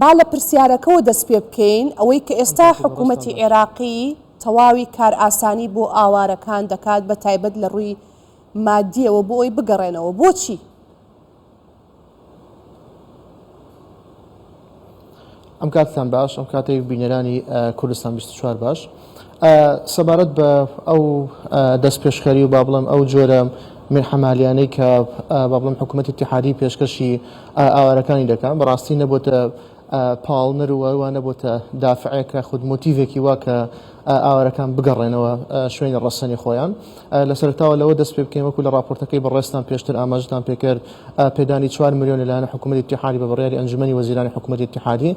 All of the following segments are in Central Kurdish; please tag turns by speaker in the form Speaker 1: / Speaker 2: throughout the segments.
Speaker 1: با لە پرسیارەکەوە دەست پێ بکەین، ئەوەی کە ئێستا حکوومەتی عێراقی تەواوی کارئاسانی بۆ ئاوارەکان دەکات بە تایبەت لە ڕووی ماددییەوە بۆ ئەوەی بگەڕێنەوە، بۆچی؟
Speaker 2: ئەم کاتتان باش، ئەم کاتەی بینەرانی کوردستان بیست و چوار باش. سەبارەت بە ئەو دەستپێشخەری و با بڵێم ئەو جۆرە مێحەمالیانەی کە با بڵێم حکوومەتی اتحادی پێشکەشی ئاوارەکانی دەکەن بەڕاستی نەبووتە پاڵنەر و وا نەبووتە دافعێکە خود مۆتیڤێکی وا کە ئاوارەکان بگەڕێنەوە شوێنی ڕەسەنی خۆیان لە سەرتاوە لەوە دەست پێ بکەین وەکو لە راپۆرتەکەی بەڕێستان پێشتر ئاماژتان پێکرد پێدانی چوار ملیۆن لەلایەن حکوومەتی اتحادی بە بڕیاری ئەنجومەنی وەزیرانی حکوومەتی اتحادی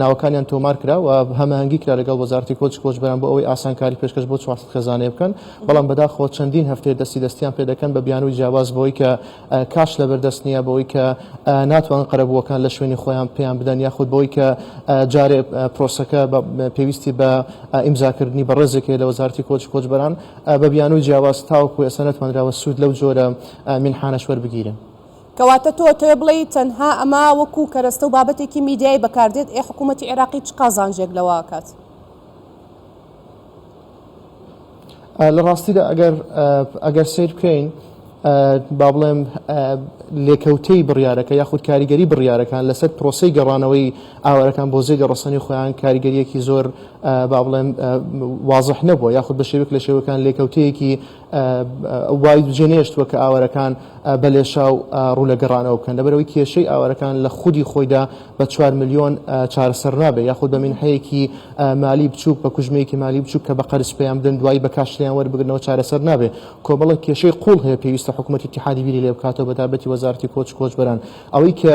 Speaker 2: ناوەکانیان تۆمار کرا و هەماهەنگی کرا لەگەڵ وەزارەتی کۆچ کۆچبەران بۆ ئەوەی ئاسانکاری پێشکەش بۆ چوار سەد خێزانەیە بکەن، بەڵام بەداخەوە چەندین هەفتەیە دەستی دەستیان پێ دەکەن بە بیانووی جیاواز بەوەی کە کاش لەبەر دەست نییە، بەوەی کە ناتوانن قەرەبووەکان لە شوێنی خۆیان پێیان بدەن یاخود بەوەی کە جارێ پرۆسەکە پێویستی بە ئیمزاکردنی بەڕێزێک هەیە لە وەزارەتی کۆچ کۆچبەران بە بیانووی جیاواز تاوەکو ئێستا نەتوانراوە سوود لەو جۆرە مینحانەش وەربگیرێن. کەواتە تۆ
Speaker 1: ئەتەوێ بڵێی تەنها ئەمە وەکو کەرەستە و بابەتێکی میدیایی بەکاردێت، ئێ حکوومەتی عێراقی چ قازانجێک لەوە ئەکات؟
Speaker 2: لە ڕاستیدا ئەگەر ئەگەر سەیر بکەین با بڵێم لێکەوتەی بڕیارەکە یاخود کاریگەری بڕیارەکان لەسەر پرۆسی گەڕانەوەی ئاوارەکان بۆ جێگە ڕسەنی خۆیان کاریگەریەکی زۆر با بڵێن وازح نەبووە یاخود بە شێوک لە شێوەکان لێکەوتەیەکی وای جێنێشتووە کە ئاوارەکان بە لێشاو ڕوو لە گەڕانەوە بکەن، لەبەرئەوەی کێشەی ئاوارەکان لە خودی خۆیدا بە چوار ملیۆن چارەسەر نابێت، یاخود بە مینحەیەکی مالی بچووک، بە کوژمەیەکی مالی بچووک کە بە قەرز پێیان بدەن، دوایی بە کاش لێیان وەربگرنەوە چارەسەر نابێت. کۆمەڵێک کێشەی قووڵ هەیە پێویستە حکومەت ئیتیحادی بیری لێ بکاتەوە، بەتایبەتی وەزارەتی کۆچ و کۆچبەران. ئەوەی کە.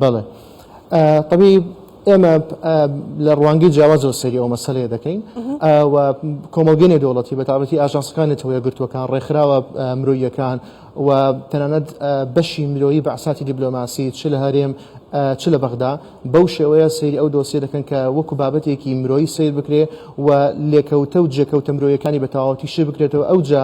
Speaker 2: بەڵێ طبی ئێمە لە ڕوانگەی جیاوازەوە سەری ئەو مەسلەیە دەکەین و کۆمەلگەنێ دەوڵەتی بە تاابەتی ئاژانسەکانی تەوە گرتوەکان ڕێکخراوە مرۆیەکان و تەنانەت بەشی مرۆیی بەعساتی دیبلۆماسی چ لە هەرێم چ لە بەغدا بەو شێوەیە سری ئەو دۆسیە دەکەن کە وەکو بابەتێکی مرۆیی سیر بکرێ و لێکەوتە و جێکەوتە مرۆیەکانی بە تەواوەتی شی بکرێتەوە ئەوجا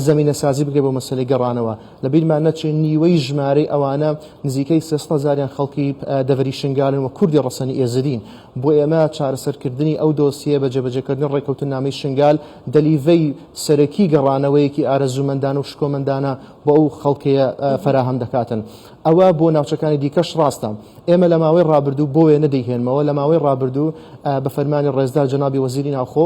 Speaker 2: زمینە سازی بکرێ بۆ مەسلەی گەڕانەوە لە بیرمان نەچێ نیوەی ژمارەی ئەوانە نزیکەی سێ سەد هەزاریان خەڵکی دەڤەری شنگالن و کوردی ڕەسەنی ئێزدین. بۆ ئێمە چارەسەرکردنی ئەو دۆسیەیە بە جێبەجێکردنی ڕێککەوتننامەی شنگال دەلیڤەی سەرەکی گەڕانەوەیەکی ئارەزوومەندانە و شکۆمەندانە بۆ ئەو خەڵکەیە فەراهەم دەکاتن. ئەوە بۆ ناوچەکانی دیکەش ڕاستە. ئێمە لە ماوەی ڕابردوو، بۆ وێنە دەیهێنمەوە، لە ماوەی ڕابردوو بە فەرمانی ڕێزدار جەنابی وەزیری ناوخۆ،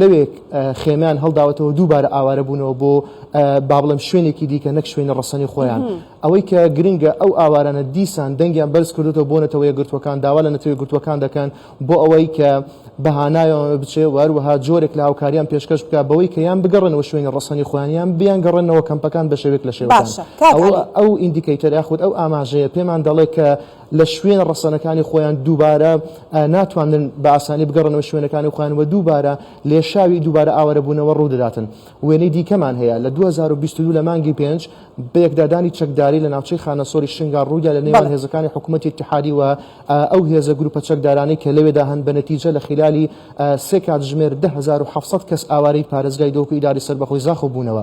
Speaker 2: لەوێ خێمەیان هەڵداوەتەوە دووبارە ئاوارە بوونەوە بۆ با بڵێم شوێنێکی دیکە نەک شوێنە ڕەسەنی خۆیان ئەوەی کە گرنگە ئەو ئاوارانە دیسان دەنگیان بەرز کردوەوە بۆ نەتەوە یەکگرتووەکان داوا لە نەتەوە یەکگرتووەکان دەکەن بۆ ئەوەی کە بەهانایەوە بچێ و هەروەها جۆرێک لە هاوکاریان پێشکەش بکە بەوەی کە یان بگەڕێنەوە شوێنی ڕەسەنی خۆیان یان بیان گەڕێنەوە کەمپەکان بە شێوێک لە شێوەکان باشە کاک عەلی ئەو ئیندیکەیتەر یاخود ئەو ئاماژەیە پێمان دەڵێ کە لە شوێنە ڕەسەنەکانی خۆیان دووبارە ناتوانن بە ئاسانی بگەڕنەوە شوێنەکانی خۆیان و دووبارە لێشاوی دووبارە ئاوارەبوونەوە ڕوودەداتن وێنەی دیکەمان هەیە لە 2022 لە مانگی پێنج بەیەکدادانی چەکداری لە ناوچەی خانەسۆری شنگا ڕوودا لە نێوان هێزەکانی حکوومەتی اتحادی و ئەو هێزە گروپە چەکدارانەی کە لەوێدا هەن بە نەتیجە لە خلالی سێ کاتژمێر 10700 کەس ئاوارەی پارێزگای دۆک و ئیداری سەربەخۆی زاخۆ بوونەوە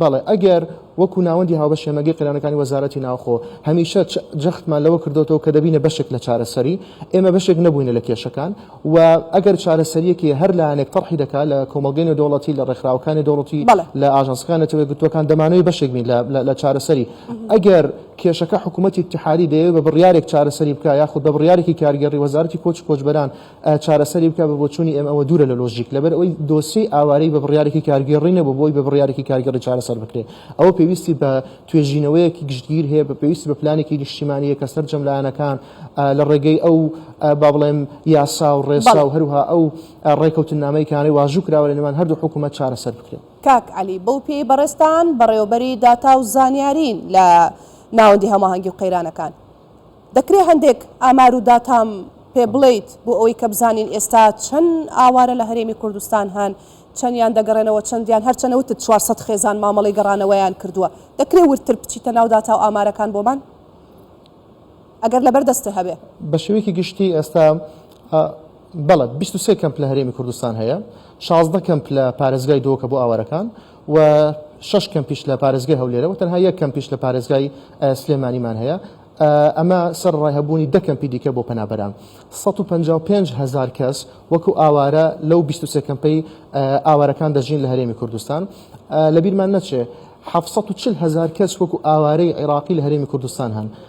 Speaker 2: بەڵێ ئەگەر وەکو ناوەندی هاوبەش هێمەگەی قەیرانەکانی وەزارەتی ناوخۆ هەمیشە جەختمان لەوە کردۆتەوە کە دەبینە بەشێک لە چارەسەری، ئێمە بەشێک نەبووینە لە کێشەکان و ئەگەر چارەسەریەک هەیە هەر لایەنێک تەڕحی دەکات لە کۆمەڵگەی نێودەوڵەتی لە ڕێکخراوەکان نێودەوڵەتی بەڵێ. لە ئاژانسەکان نەتەوە یەکگرتووەکان دەمانەوێت بەشێک بین لە چارەسەری ئەگەر کێشەکە حکومەتی ئیتحادی دەیەوێت بە بڕیارێک چارەسەری بکات یاخود بە بڕیارێکی کارگێڕی وەزارەتی کۆچ و کۆچبەران چارەسەری بکە بە بۆچوونی ئێمە ئەوە دوورە لە لۆژیک لەبەر ئەوەی دۆسیەی ئاوارەی بە بڕیارێکی کارگێڕی نەبوو بۆی بە بڕیارێکی کارگێڕی چارەسەر بکرێت ئەوە پێویستی بە توێژینەوەیەکی گشتگیر هەیە بە پێویستی بە پلانێکی نیشتیمانیە کە سەرجەم لایەنەکان لە ڕێگەی ئەو با بڵێم یاسا و ڕێسا و هەروها ئەو ڕێکەوتنامەی کانەی واژوو کراوە لە نێوان هەردوو حکوومەت چارەسەر بکرێت کاک علی بەو
Speaker 1: پێی بەڕێستان بەڕێوەبەری داتا و زانیارین لە ناوەندی هەماهەنگی و قەیرانەکان دەکرێ هەندێک ئامار و داتام پێ بڵێیت بۆ ئەوەی کە بزانین ئێستا چەند ئاوارە لە هەرێمی کوردستان هەن؟ چەندیان دەگەڕێنەوە؟ چەندیان هەرچەنە وتت چوار سەد خێزان مامەڵەی گەڕانەوەیان کردووە. دەکرێ وردتر بچیتە ناو داتا و ئامارەکان بۆمان؟ ئەگەر لەبەر دەستت هەبێ. بە شێوەیەکی گشتی
Speaker 2: ئێستا بەڵێ بیست و سێ کەمپ لە هەرێمی کوردستان هەیە، شازدە کەمپ لە پارێزگای دۆکە بۆ ئاوارەکان، و شەش کەمپیش لە پارێزگای هەولێرە و تەنها یەک کەمپیش لە پارێزگای سلێمانیمان هەیە، ئەمە سەرەڕای هەبوونی دە کەمپی دیکە بۆ پەنابەران. سەد و پەنجا و پێنج هەزار کەس وەکو ئاوارە لەو بیست و سێ کەمپەی ئاوارەکان دەژین لە هەرێمی کوردستان. لەبیرمان نەچێ حەفت سەد و چل هەزار کەس وەکو ئاوارەی عێراقی لە هەرێمی کوردستان هەن.